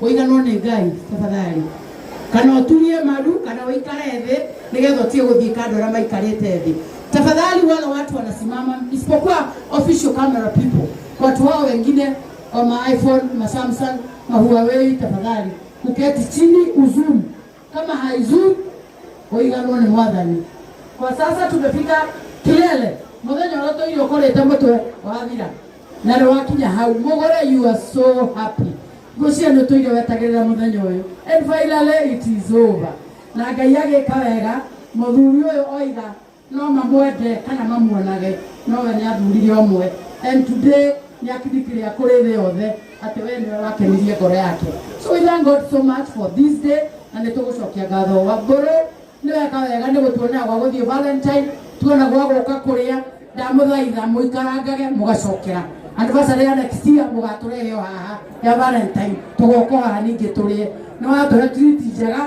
Kũiganwo nĩ Ngai tafadhali. Kana ũturie maru kana ũikare thĩ nĩgetha ũtige gũthiĩ kando arĩa maikarĩte thĩ. Tafadhali wale watu wanasimama isipokuwa official camera people. Watu hao wengine wa ma iPhone, ma Samsung, ma Huawei tafadhali. Uketi chini uzoom kama haizuu ũiganwo nĩ mwathani kwa sasa tumefika kilele muthenya ũrĩa tũirio kũrĩte mũtwe wathira na nĩ wakinya hau mũgũre you are so happy ngũcia nĩ tũire wetagĩrĩra mũthenya ũyũ and finally it is over na ngai agĩka wega mũthuri ũyũ oiga No mamwende kana mamuonage, no we nĩathuurire ũmwe, and today nĩakindikĩria kũrĩ thĩ yothe atĩ we nĩwe wakenirie ngoro yake. So we thank God so much for this day, na nĩtũgũcokia ngatho. Wangũrũ nĩweka wega nĩgũtuonia gwa gũthiĩ Valentine, tuona gwa gũka kũrĩa, ndamũthaitha mũikarangage mũgacokera. Anniversary ya next year mũgatũrehe o haha ya Valentine, tũgoka o haha ningĩ tũrĩe. Nĩwatũhe treat njega.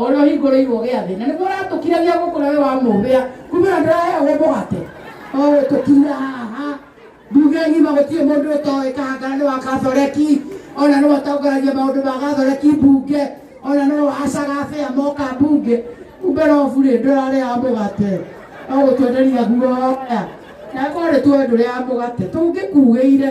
ũrĩa ũhingũrĩirwo gĩathĩ na nĩguo ũratũkiragia gũkũ na we wamũhĩa kumĩra ndĩraheagwo mũgate ũgũtũkira haha nduge ngima gũtirĩ mũndũ ũtoĩ kahangara nĩ wa kathoreki ona nĩ watongaragia maũndũ ma gathoreki mbunge ona nĩ wacaga bĩa moka mbunge kumbe robu rĩ ndũrarĩaga mũgate ũgũtwenderia guoya na korĩ twe ndũrĩaga mũgate tũngĩkugĩire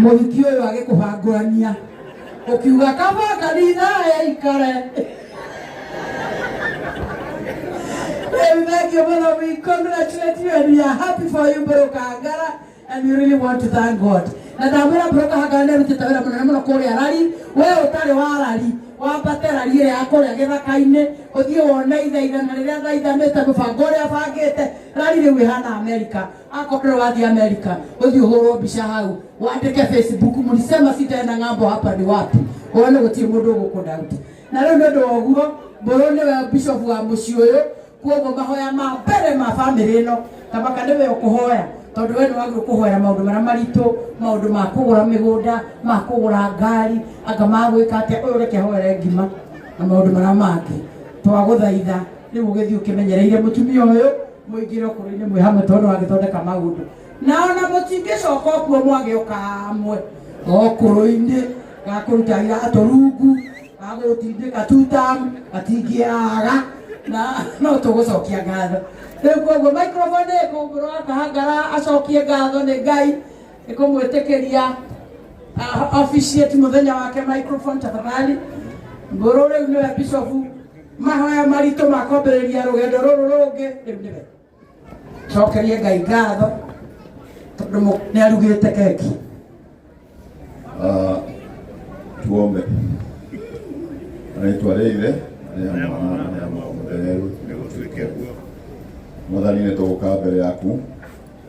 mũruti ũyũ agĩkũhangũrania ũkiuga kaba kanitha ya ikare rĩu thengio mũno we congratulate you and we are happy for you bro kangara and we really want to thank god na ndamwĩra bro kahangara nĩ arutĩte wĩra mũnene mũno kũrĩa rari we ũtarĩ wa rari wambate rari ĩrĩa ya kũrĩa gĩthaka-inĩ ũthiĩ wone ithaithana rĩrĩa thaithanĩte mũbango ũrĩa bangĩte rari rĩu ĩhana amerika Akopre wathi Amerika, uthi uhurwo mbica hau, wandike Facebook, mlisema sitaenda ng'ambo, hapa ni wapi? Uone gutie mundu gukudauti. Na riu ni undu wa uguo, mburu niwe bishop wa mucii uyu, kuoguo mahoya ma mbere ma family ino, tabaka niwe ukuhoya tondu we niwagirwo kuhoera maundu maria maritu, maundu ma kugura migunda, ma kugura ngari, anga ma gwika atia, uyu reke hoere ngima na maundu maria mangi. Twaguthaitha riu ugithi ukimenyereire mutumia uyu mũingĩre ũkũrũ-inĩ mwĩ hamwe tondũ no agĩthondeka maũndũ na ona mũtingĩcoka ũkuo mwagĩũka hamwe ũkũrũ-inĩ gakũruta iratũ rungu gagũtindĩka tutamu gatingĩaga na no tũgũcokia ngatho rĩu koguo microphone ĩkũmbũrwo akahangara acokie ngatho nĩ ngai ĩkũmwĩtĩkĩria ah, officiate mũthenya wake microphone tafadhali ngũrũ rĩu nĩwe bishopu mahoya maritũ ma kwambĩrĩria rũgendo rũrũ rũngĩ rĩu nĩwe cokerie ngai ngatho tondũ mũ- nĩ arugĩte keki Ah, tuombe anaitwa rĩithe rĩa mwana rĩa mwana mũtheru nĩ gũtuĩke guo mwathani nĩ tũgũka mbere yaku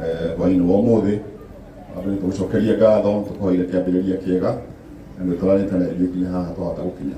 eh, hwaĩ-inĩ wa ũmũthĩ andũ nĩ tũgũcokeria ngatho tũkũhoire kĩambĩrĩria kĩega na nĩ tũranĩte na ithuĩ nginya haha twahota gũkinya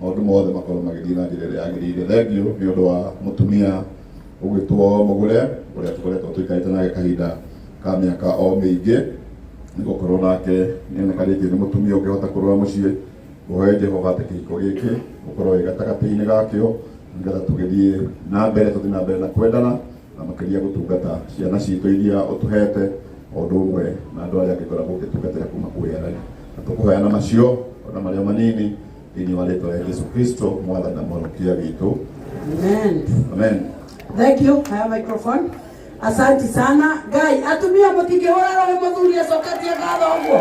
maũndũ mothe makorwo magĩthiĩ na njĩra ĩrĩa yagĩrĩire thengiũ nĩ ũndũ wa mũtumia ũgwĩtwo mũgũre ũrĩa tũkoretwo tũikarĩte nake kahinda ka mĩaka o mĩingĩ nĩ gũkorwo nake nĩoneka rĩngĩ nĩ mũtumia ũngĩhota kũrora mũciĩ ũhoe jehova atĩ kĩhiko gĩkĩ ũkorwo wĩ gatagatĩ-inĩ gakĩo nĩgetha tũgĩthiĩ na mbere tũthiĩ na mbere na kwendana na makĩria gũtungata ciana citũ iria ũtũhete o ũndũ ũmwe na andũ arĩa angĩkoragwo ũgĩtungatĩra kuma kũrĩa na tũkũhoya na macio ona marĩa manini thĩinĩ wa rĩtwa rĩa Jesu Kristo mwathani na mũhonokia witũ Amen. amen Thank you. Haya microphone. Asanti sana. Ngai, atumia mũtingĩhũra roho mũthuri acokatie ngatho ũguo.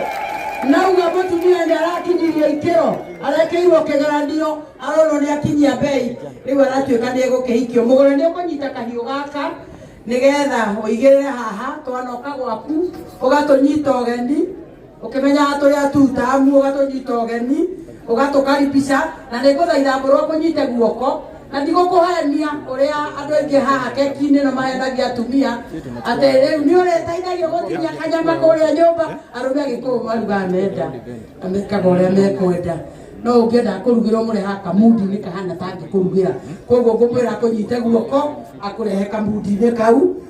Nauga mũtumia nĩ arakinyirie ikĩro, arekeirwo kĩgeranio, arorwo nĩ akinyia mbei, rĩu aratuĩka nĩ egũkĩhikio. Mũgũri nĩ ũkũnyita kahiũ gaka nĩgetha ũigĩrĩre haha, twanoka gwaku, ũgatũnyita ũgeni, Ũkĩmenyaga tũrĩ atutamu, ũgatũnyita ũgeni, ũgatũkaribisha, na nĩngũthaitha ngũrũe ũkũnyite guoko, na ndigũkũhenia ũrĩa andũ aingĩ haha keki-inĩ ĩno mahenagia atumia, atĩ rĩu nĩ ũrĩteithagio gũtinia kanyama kũrĩa nyũmba, arũme agĩkũyũ marugaga menda, na mekaga ũrĩa mekwenda, no ũngĩenda kũrugĩrwo mũrehaga kamudi-inĩ kahana ta angĩkũrugĩra, koguo ngũmwĩra akũnyite guoko, akũrehe kamudi-inĩ kau.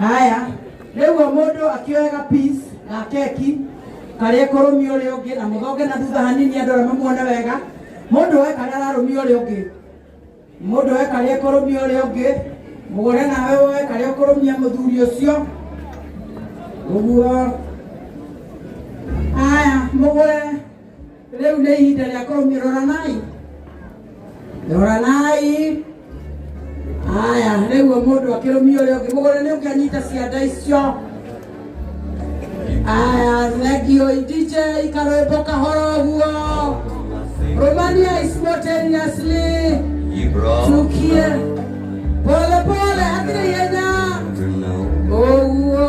haya rĩu o mũndũ akĩoyaga peace na keki karĩa kũrũmia ũrĩa ũngĩ na mũthonge na thutha hanini andũ arĩa mamuone wega mũndũ we karĩa ararũmia ũrĩa ũngĩ mũndũ we karĩa kũrũmia ũrĩa ũngĩ mũgũre nawe woe karĩa kũrũmia mũthuri ũcio ũguo haya mũgũre Rĩu nĩ ihinda rĩa kũmia, roranai, roranai. Haya, rĩu o mũndũ akĩrũmia ũrĩa ũngĩ mũgũrĩ nĩ ũkĩanyita cianda icio. Haya, thengio DJ karwĩmbo kahoro ũguo. Rũmania simultaneously. Tukie pole pole, hatirĩ ihenya. Ũguo.